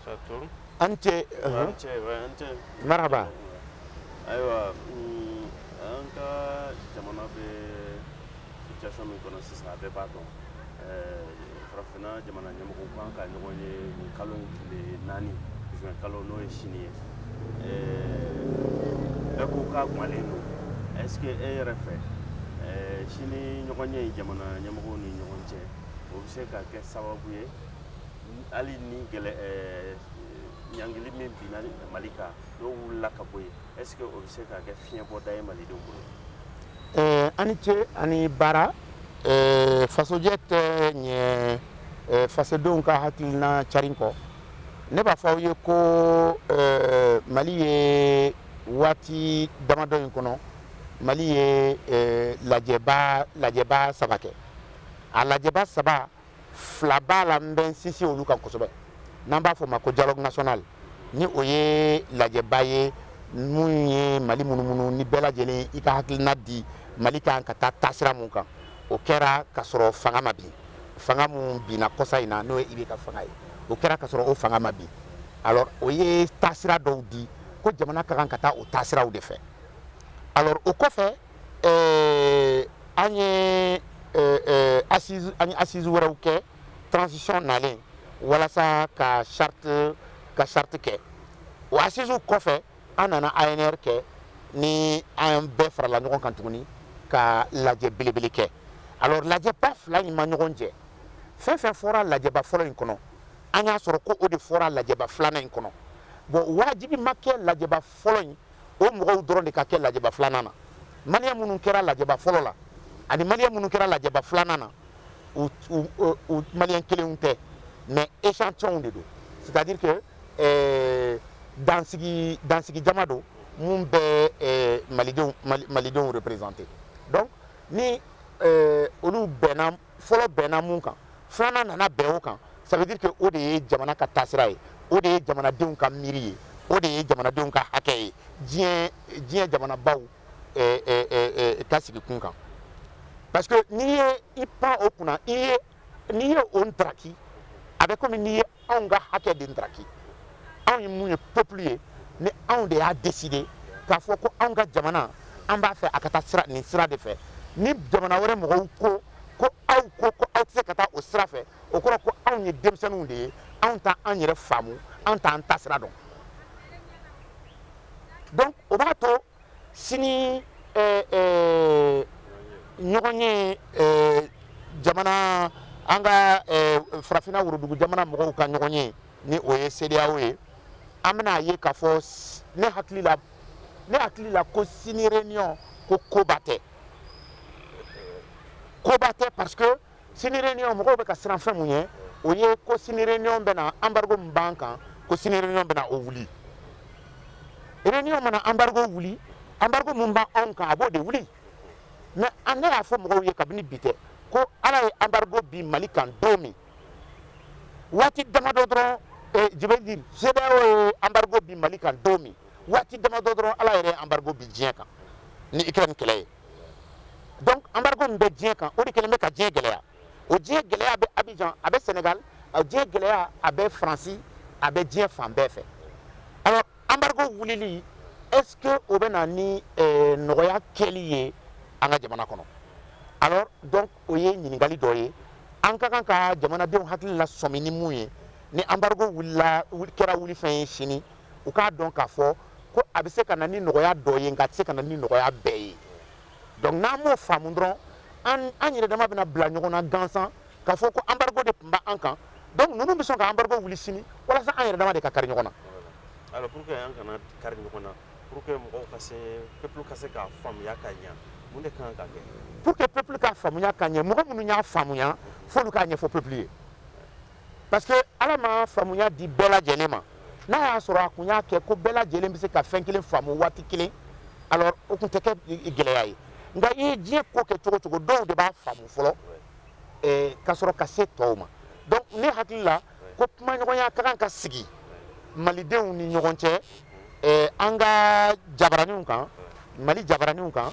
Saturne. Ante. Ante Ante. Marhaba. ayiwa mm, an ka jamana bɛ situation min kɔnɔ sisan a bɛɛ b'a dɔn eh, farafinna jamana ɲɛmɔgɔw kan ka ɲɔgɔn ye nin kalo in tile naani juin kalo n'o ye sini ye eh, bɛɛ ko k'a gumalen don est ce que e yɛrɛ fɛ eh, sini ɲɔgɔnye in jamana ɲɛmɔgɔw ni ɲɔgɔn cɛ o bɛ se ka kɛ sababu ye hali ni gɛlɛ eh, ɲangili min binna mali kan n'o wulila ka bɔ yen est ce que o bɛ se ka kɛ fiɲɛbɔda ye malidenw bolo eh, a ni ce a ni baara eh, fasojɛ tɛ ɲɛ fasodenw ka hakilina carin kɔ ne b'a fɔ aw ye ko mali ye waati damadɔ in kɔnɔ mali ye lajɛba lajɛba saba kɛ a lajɛba saba fila b'a la n bɛ n sinsin olu kan kosɛbɛ n'an b'a fɔ o ma ko dialogue national ni o ye lajɛba ye mun ye mali munumunu ni bɛɛ lajɛlen i ka hakilina di mali kan ka taa taasira mun kan o kɛra ka sɔrɔ fanga ma bin fanga mun binna kɔsa in na n'o ye ibk fanga ye o kɛra ka sɔrɔ o fanga ma bin alors o ye taasira dɔw di ko jamana ka kan ka taa o taasiraw de fɛ alors o kɔfɛ eh, an ye eh, eh, assise an ye assise wɛrɛw kɛ transition nalen walasa ka charte ka charte kɛ o assise kɔfɛ an nana anr kɛ ni an bɛɛ farala ɲɔgɔn kan tuguni ka lajɛ belebele kɛ alors lajɛba fila in ma ɲɔgɔn jɛ fɛn fɛn fɔra lajɛba fɔlɔ in kɔnɔ an y'a sɔrɔ ko o de fɔra lajɛba filanan in kɔnɔ bon wajibi ma kɛ lajɛba fɔlɔ in o mɔgɔw dɔrɔn de ka kɛ lajɛba filanan na maliyɛn minnu kɛra lajɛba fɔlɔ la ani maliyɛn minnu kɛra lajɛba filanan na u u maliyɛn kelenw tɛ mais échantillonw de don c'est à dire que euh, dansigi dansigi jama don mun bɛ euh, malidenw malidenw représenter donc ni euh, olu bɛnna fɔlɔ bɛnna mun kan filanan nana bɛn o kan ça veut dire que o de ye jamana ka taasira ye o de ye jamanadenw ka miiri ye o de ye jamanadenw ka hakɛ ye diɲɛ diɲɛ jamanabaw eh, eh, eh, ka sigi kun kan parce que n'i ye i pan o kunna i ye n'i ye o ntaraki a bɛ komi n'i ye anw ka hakɛ de ndaraki anw ye mun ye peuple ye ni anw de y'a décider k'a fɔ ko anw ka jamana an b'a fɛ a ka taa sira nin sira de fɛ ni jamana wɛrɛ mɔgɔw ko ko aw ko ko aw tɛ se ka taa o sira fɛ o kɔrɔ ko anw ye denmisɛnninw de ye anw t'an an yɛrɛ faamu anw t'an taasira dɔn donc o b'a to sini eh, eh, ɲɔgɔn ye eh, jamana an ka eh, farafina worodugu jamana mɔgɔw ka ɲɔgɔn ye ni o ye cedeao ye an bɛna ye k'a fɔ s- ne hakili la ne hakili la ko sini réunion ko koba tɛ koba tɛ parce que sini réunion mɔgɔw bɛ ka siran fɛn mun ɲɛ o ye ko sini réunion bɛna embargo min b'an kan ko sini réunion bɛna o wuli réunion mana embargo wuli embargo mun b'an anw kan a b'o de wuli mais an ne y'a fɔ mɔgɔw ye kabini bi tɛ ko ala ye embargo bin mali kan don min waati damadɔ dɔrɔn eh, je veux dire cedeao ye embargo bin mali kan don min waati damadɔ dɔrɔn ala yɛrɛ ye embargo bin diɲɛ kan ni ukraine kɛlɛ ye donc embargo min bɛ diɲɛ kan o de kɛlen bɛ ka diɲɛ gɛlɛya o diɲɛ gɛlɛya bɛ abidjan a bɛ sénégal o diɲɛ gɛlɛya a bɛ faransi a bɛ diɲɛ fan bɛɛ fɛ alors embargo wulili est ce que o bɛ na ni eh, nɔgɔya kɛli ye an ka jamana kɔnɔ alors donc o ye ɲininkali dɔ ye an ka kan ka jamanadenw hakili lasɔmi ni mun ye ni embargo wuli kɛra wulifɛn ye sini u k'a dɔn k'a fɔ ko a bɛ se ka na ni nɔgɔya dɔ ye nka a tɛ se ka na ni nɔgɔya bɛɛ ye donc n'an m'o faamu dɔrɔn an an yɛrɛ dama bɛna bila ɲɔgɔn na gansan k'a fɔ ko embargo de tun bɛ an kan donc ninnu bɛ sɔn ka embargo wuli sini walasa an yɛrɛ dama de ka kari ɲɔgɔn na. alors pour que an kana kari ɲɔgɔn na pour que mɔgɔw ka se peuple ka se k'a faamuya ka ɲɛ mun de kan ka kɛ. pour que peuple ka faamuya ka ɲɛ mɔgɔ minnu y'a faamuya f'olu k'a ɲɛfɔ peuple ye. parce que ala ma faamuya di bɛɛ lajɛlen ma n'a y'a sɔrɔ a kun y'a kɛ ko bɛɛ lajɛlen bɛ se ka fɛn kelen faamu waati kelen alors o tun tɛ kɛ gɛlɛya ye nka i ye diɲɛ ko kɛ cogo cogo dɔw de b'a faamu fɔlɔ eh, ka sɔrɔ ka se tɔw ma donc ne hakili la ko kumaɲɔgɔnya ka kan ka sigi malidenw ni ɲɔgɔn cɛ eh, an ka jabaraninw kan mali jabaraninw kan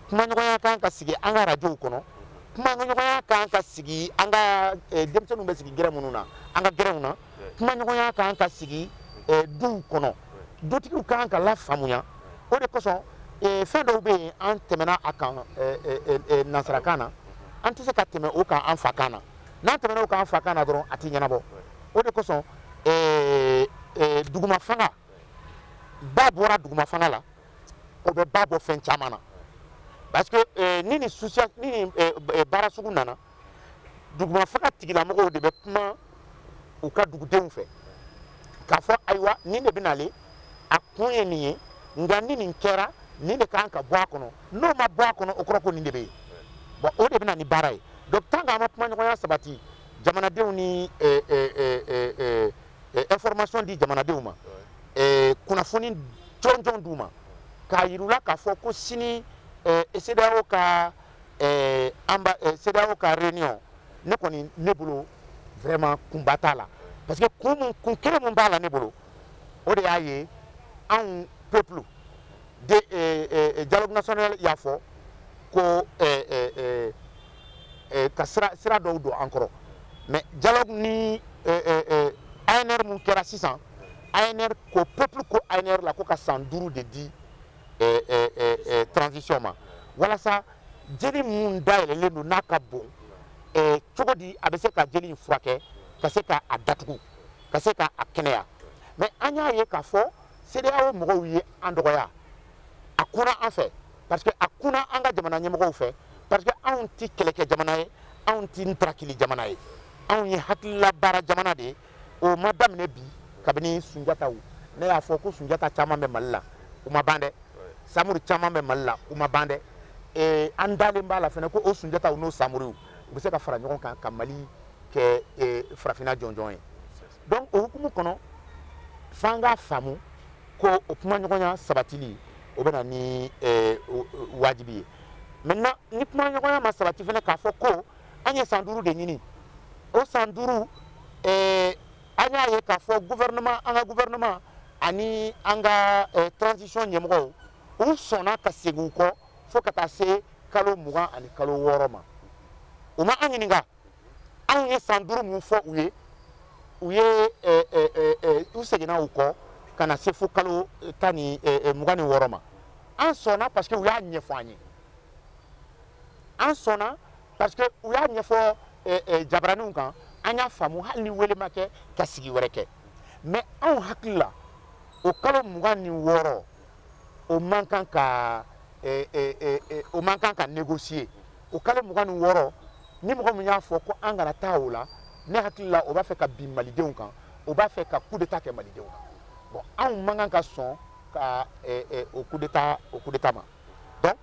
kumaɲɔgɔnya ka kan ka sigi an ka arajow kɔnɔ kumaɲɔgɔnya kan ka sigi an ka eh, denmisɛnninw bɛ sigi gɛrɛn minnu na an ka gɛrɛnw na kumaɲɔgɔnya kan ka sigi eh, duw kɔnɔ dutigiw kan ka lafaamuya o de kosɔn eh, fɛn dɔw bɛ yen an tɛmɛna a kan nansarakan na an tɛ se ka tɛmɛ o kan an fakan na n'an tɛmɛna o kan an fakan na dɔrɔn a tɛ ɲɛnabɔ o de kosɔn dugumafanga ba bɔra dugumafanga la o bɛ ba bɔ fɛn caman na parce que eh, ni nin ni nin eh, eh, baara sugu nana dugumafanga tigilamɔgɔw de bɛ kuma u ka dugudenw fɛ k'a fɔ ayiwa nin de bɛ nalen a kun ye nin ye nka ni nin kɛra nin de kan ka bɔ a kɔnɔ n'o ma bɔ a kɔnɔ o kɔrɔ ko nin de bɛ yen bon o de bɛ na ni baara ye donc tant que an ma kumaɲɔgɔnya sabati jamanadenw ni eh, eh, eh, eh, eh, eh, information di jamanadenw ma eh, kunnafoni jɔnjɔn d'u ma k'a yir'u la k'a fɔ ko sini eh, CEDEAO ka eh, amba, eh, CEDEAO ka réunion ne kɔni ne bolo vraiment kunba t'a la parce que kun mun kun kelen mun b'a la ne bolo o de y'a ye anw peuple de eh, eh, eh, dialogue national y'a fɔ ko eh, eh, eh, eh, ka sira sira dɔw don an kɔrɔ mais dialogue ni eh, eh, eh, ANR mun kɛra sisan ANR ko peuple ko ANR la ko ka san duuru de di eh, eh, eh, eh, transition ma walasa jeli mun dayɛlɛlen don n'a ka bon eh, cogo di a bɛ se ka jeli in furakɛ ka se ka a datugu ka se ka a kɛnɛya mais an y'a ye k'a fɔ CEDEAO mɔgɔw ye an dɔgɔya a kunna an fɛ parce que a kunna an ka jamana ɲɛmɔgɔw fɛ parce que anw ti kɛlɛkɛ jamana ye anw ti ntarakili jamana ye anw ye hakilila baara jamana de ye o ma daminɛ bi kabini sunjataw ne y'a fɔ ko sunjata caman bɛ mali la u ma ban dɛ samuri caman bɛ mali la u ma ban dɛ eh, an dalen b'a la fɛnɛ ko o sunjataw n'o samuriw u bɛ se ka fara ɲɔgɔn kan ka mali kɛ eh, farafina jɔnjɔn ye donc o hukumu kɔnɔ f'an k'a faamu ko o kumaɲɔgɔnya sabatili o bɛ na ni eh, wajibi ye maintenant ni kumaɲɔgɔnya ma sabati fɛnɛ k'a fɔ ko an ye san duuru de ɲini o san duuru eh, an y'a ye k'a fɔ gouvernement an ka gouvernement ani an ka eh, transition ɲɛmɔgɔw u sɔnna ka segin u kɔ fo ka taa se kalo mugan ani kalo wɔɔrɔ ma u ma an ɲininka anw ye san duuru mun fɔ u ye u ye eh, eh, eh, u seginna u kɔ ka na se fo kalo tan ni mugan ni wɔɔrɔ ma an sɔnna parce que u y'a ɲɛfɔ an ye an sɔnna parce que u y'a ɲɛfɔ jabaraninw kan an y'a faamu hali ni wele ma kɛ ka sigi wɛrɛ kɛ mais anw hakili la o kalo mugan ni wɔɔrɔ o man kan ka o man kan ka négocier o kalo mugan ni wɔɔrɔ ni mɔgɔ min y'a fɔ ko an kana taa o la ne hakili la o b'a fɛ ka bin malidenw kan o b'a fɛ ka coup d'état kɛ malidenw kan bon anw man kan ka sɔn ka eh, eh, o coup d'état o coup d'état ma donc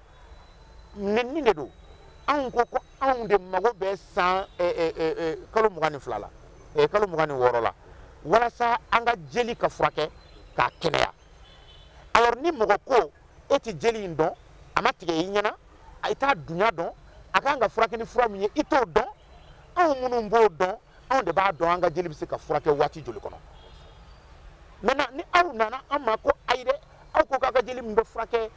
nenni de don anw ko ko anw de mago bɛ san eh, eh, eh, eh, kalo mugan ni fila la eh, kalo mugan ni wɔɔrɔ la walasa an ka jeli ka furakɛ k'a kɛnɛya alors ni mɔgɔ ko e tɛ jeli in dɔn a ma tigɛ i ɲɛna i t'a dunya dɔn a kan ka furakɛ ni fura min ye i t'o dɔn anw minnu b'o dɔn anw de b'a dɔn an ka jeli bɛ se ka furakɛ waati joli kɔnɔ maintenant ni aw nana an ma ko ayi dɛ aw ko k'a ka jeli min bɛ furakɛ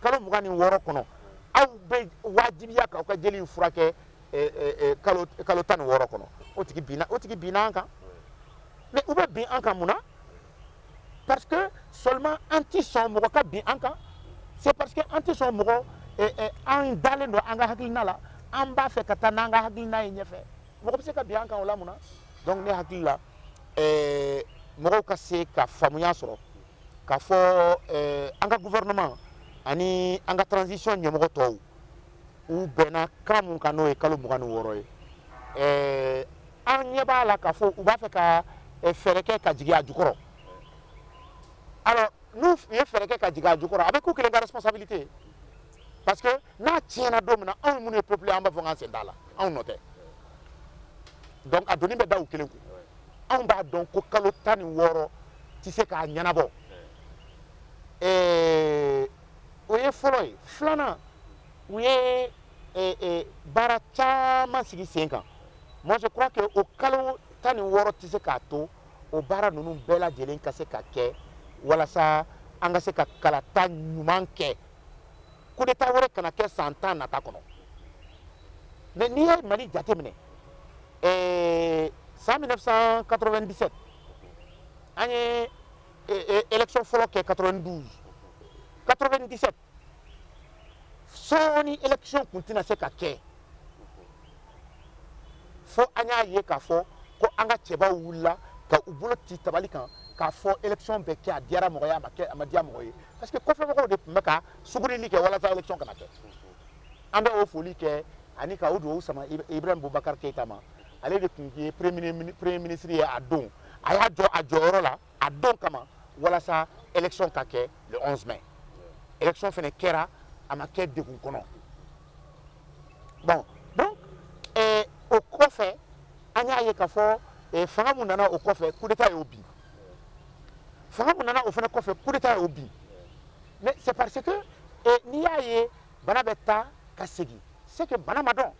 kalo mugan ni wɔɔrɔ kɔnɔ aw bɛ wajibiya k'aw ka jeli in furakɛ kalo tan ni wɔɔrɔ kɔnɔ o tigi binna an kan mais u bɛ bin an kan mun na parce que seulement an ti sɔn mɔgɔ ka bin an kan c'est parce que an ti sɔn mɔgɔ eh, eh, an dalen don an ka hakilina la an b'a fɛ ka taa n'an ka hakilina ye ɲɛfɛ mɔgɔ bɛ se ka bin an kan o la mun na donc ne hakili la eh, mɔgɔw ka se ka faamuya sɔrɔ k'a fɔ eh, an ka gouvernement ani an ka transition ɲɛmɔgɔ tɔw u bɛnna kan mun kan n'o ye kalo mugan ni wɔɔrɔ ye ɛɛ an ɲɛ b'a la k'a fɔ u b'a fɛ ka fɛɛrɛ kɛ ka jigin a jukɔrɔ alors n'u ye fɛɛrɛ kɛ ka jigin a jukɔrɔ a bɛ k'u kelen ka responsabilité ye parce que n'a tiɲɛna don min na anw minnu ye peuple an b'a fɔ k'an sen t'a la anw nɔ tɛ donc a doni bɛ da u kelen kun anw b'a dɔn ko kalo tan ni wɔɔrɔ tɛ se k'a ɲɛnabɔ ɛɛ o ye fɔlɔ ye filanan u ye eh, eh, baara caman sigi sen kan moi je crois que o kalo tan ni wɔɔrɔ tɛ se k'a to o baara ninnu bɛɛ lajɛlen ka se ka kɛ walasa an ka se ka kalata ɲuman kɛ coup d'état wɛrɛ kana kɛ san tan nata kɔnɔ mais n'i ye mali jateminɛ eh, san 1997 an ye élection fɔlɔ kɛ 92 97 sɔɔni élection kun tɛna se ka kɛ fo an y'a ye k'a fɔ ko an ka cɛbaw wulila ka u bolo ti tabali kan k'a fɔ élection bɛ kɛ a diyara mɔgɔ ye a ma kɛ a ma diya mɔgɔ ye parce que kɔfɛmɔgɔw de tun bɛ ka sugurili kɛ walasa élection kana kɛ an bɛ o foli kɛ ani ka o dugawu sama ibrahim bubakar keyita ma ale de tun ye premier ministre ye a don a y'a jɔ a jɔyɔrɔ la a don kama walasa élection ka kɛ le 11 mai élection fana kɛra a ma kɛ degun kɔnɔ bon donc eh, o kɔfɛ an y'a ye k'a fɔ eh, fanga mun nana o kɔfɛ coup d'état y'o bin fanga mun nana o fana kɔfɛ coup d'état y'o bin mais c'est parce que eh, n'i y'a ye bana bɛ taa ka segin c'est que bana ma dɔn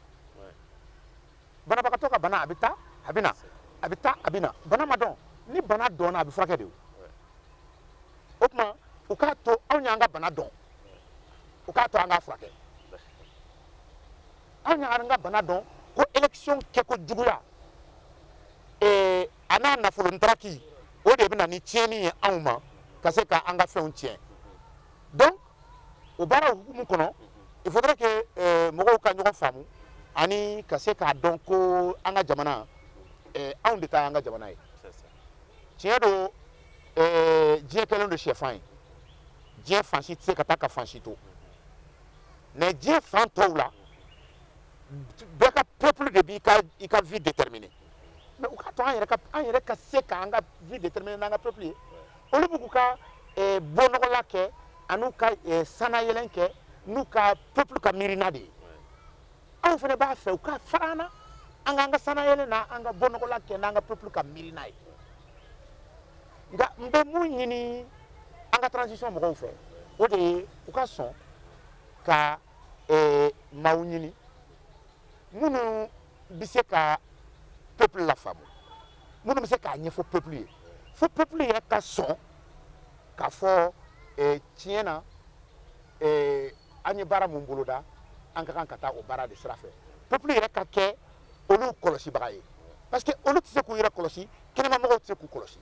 banabagatɔ ka bana a bɛ taa a bɛ na a bɛ taa a bɛ na bana ma dɔn ni bana dɔnna a bɛ furakɛ de o o tuma u k'a to anw y'an ka bana dɔn u k'a to an k'a furakɛ anw y'an ka bana dɔn ko élection kɛko juguya ee eh, a n'a nafolo ntaraki o de bɛ na ni tiɲɛni ye anw ma ka se ka an ka fɛnw tiɲɛ donc o baaraw hukumu kɔnɔ il faudrait que euh, mɔgɔw ka ɲɔgɔn faamu ani ka se k'a dɔn ko an ka jamana euh, anw de ta y'an ka jamana ye tiɲɛ don euh, diɲɛ kɛlen don sɛfan ye diɲɛ fan si tɛ se ka taa ka fan si to mais diɲɛ fan tɔw la bɛɛ ka peuple de b'i ka i ka vie déterminer mais u k'a to an yɛrɛ ka an yɛrɛ ka se ka an ka vie déterminer n'an ka peuple ye olu b'u ka eh, bɔnɔgɔla kɛ an'u ka eh, sanayɛlɛn kɛ n'u ka peuple ka miirina de ye anw fana b'a fɛ u ka fara an na an k'an ka sanayɛlɛn n'an ka bɔnɔgɔla kɛ n'an ka peuple ka miirina ye nka n bɛ mun ɲini an ka transition mɔgɔw fɛ o de ye u ka sɔn ka eh, maaw ɲini minnu bɛ se ka peuple lafaamu minnu bɛ se k'a ɲɛfɔ peuple ye fo peuple yɛrɛ ka sɔn k'a fɔ eh, tiɲɛ na eh, an ye baara mun boloda an ka kan ka taa o baara de sira fɛ peuple yɛrɛ ka kɛ olu kɔlɔsibaga ye parce que olu tɛ se k'u yɛrɛ kɔlɔsi kɛnɛmamɔgɔw tɛ se k'u kɔlɔsi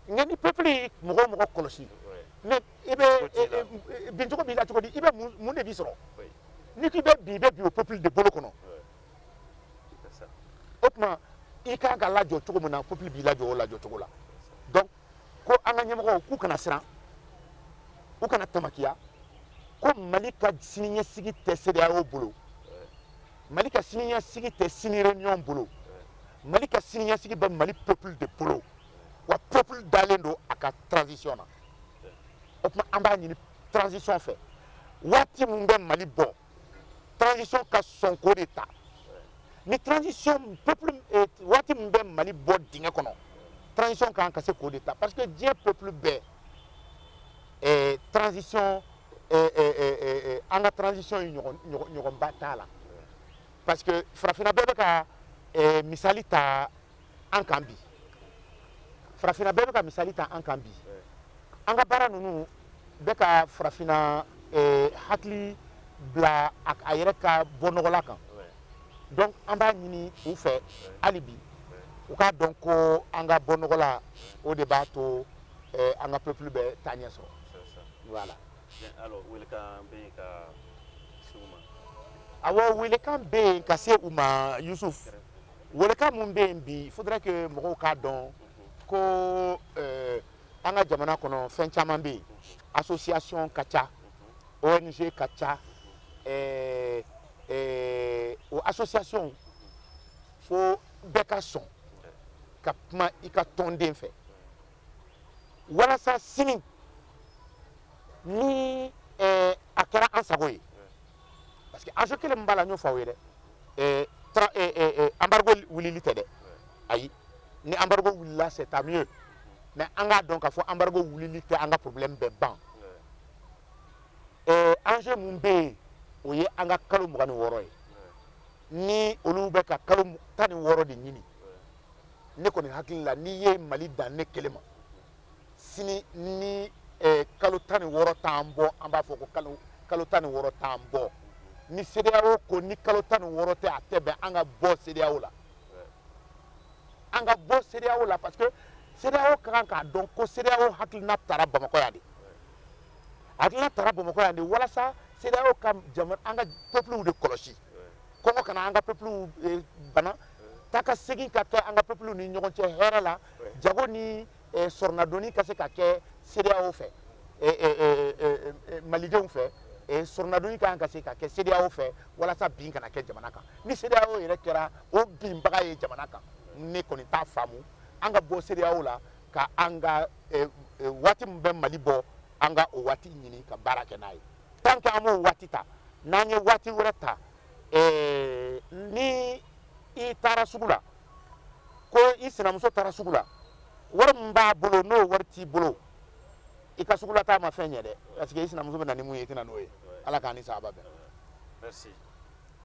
nka ni peuple ye mɔgɔ o mɔgɔ kɔlɔsi mais i bɛ bincogo b'i la cogo di i bɛ mun de b'i sɔrɔ n'i k'i bɛ bin i bɛ bin o peuple de bolo kɔnɔ o tuma i kan ka lajɔ cogo min na peuple b'i lajɔ o lajɔ cogo la donc ko an ka ɲɛmɔgɔw k'u kana siran u kana tamakiya ko mali ka siniɲɛsigi tɛ cedeao bolo mali ka siniɲɛsigi tɛ sini réunion bolo mali ka siniɲɛsigi bɛ mali peuple de bolo wa peuple dalen don a ka transition na o tuma an b'a ɲini transition fɛ waati min bɛ mali bɔ transition ka sɔn k'o de ta ni transition peuple eh, waati min bɛ mali bɔ dingɛ kɔnɔ transition kan ka se k'o de ta parce que diɲɛ peuple bɛɛ eh, transition eh, eh, eh, eh, eh, an ka transition ye ɲɔgɔn ɲɔgɔn ɲɔgɔnba t'a la parce que farafinna bɛɛ bɛ ka eh, misali ta an kan bi farafinna bɛɛ bɛ ka misali ta an kan bi an ka baara ninnu bɛ ka farafinna eh, hakili bila a a yɛrɛ ka bɔnɔgɔla kan donc an b'a ɲini u fɛ hali bi u k'a dɔn ko an ka bɔnɔgɔla o de b'a to eh, an ka peuple bɛ taaɲɛ sɔrɔ voilà alors welekan bɛ yen ka se u ma awɔ welekan bɛ yen ka se u ma yusuf welekan mun bɛ yen bi il faudrait que mɔgɔw k'a dɔn ko euh, an ka jamana kɔnɔ fɛn caman bɛ yen association ka ca ONG ka ca euh, euh, o association fo bɛɛ ka sɔn ka kuma i ka tɔnden fɛ walasa sini ni eh, a kɛra an sago ye parce que enjeu kelen min b'a la n y'o fɔ aw ye dɛ eh, tra- eh, eh, eh, embargo wulili tɛ dɛ ayi ni embargo wulila c'est tant mieux mais an k'a dɔn k'a fɔ embargo wulili tɛ an ka problème bɛɛ ban eh, enjeu min bɛ yen o ye an ka kalo mugan ni wɔɔrɔ ye ni olu bɛ ka kalo mu- tan ni wɔɔrɔ de ɲini ne kɔni hakili la n'i ye Mali dan ne kelen ma sini ni eh, kalo tan ni wɔɔrɔ t'an bɔ an b'a fɔ ko kalo, kalo tan ni wɔɔrɔ t'an bɔ ni CEDEAO ko ni kalo tan ni wɔɔrɔ tɛ a tɛ bɛn an ka bɔ CEDEAO la an ka bɔ CEDEAO la parce que CEDEAO ka kan k'a dɔn ko CEDEAO hakilina tara Bamakɔ yan de hakilina tara Bamakɔ yan de walasa CEDEAO ka jama an ka peuplew de kɔlɔsi kɔngɔ kana an ka peuple eh, bana taakasegin ka kɛ an ka peuple ni ɲɔgɔn cɛ hɛrɛ la jago ni eh, sɔrɔnadonni ka se ka kɛ CEDEAO fɛ eh, malidenw fɛ sɔrɔnadonni ka kan ka se ka kɛ CEDEAO fɛ walasa bin kana kɛ jamana kan ni CEDEAO yɛrɛ kɛra o binbaga ye jamana kan ne kɔni t'a faamu an ka bɔ CEDEAO la ka an ka waati min bɛ Mali bɔ an ka o waati ɲini ka baara kɛ n'a ye tant que an m'o waati ta n'an ye waati wɛrɛ ta eh, ni i taara sugu la ko i sinamuso taara sugu la wari min b'a bolo n'o wari t'i bolo i ka sugulataa ma fɛn ɲɛ dɛ parce que i sinamuso bɛ na ni mun ye i tɛ na n'o ye ala k'an ni sawaba bɛn. Merci.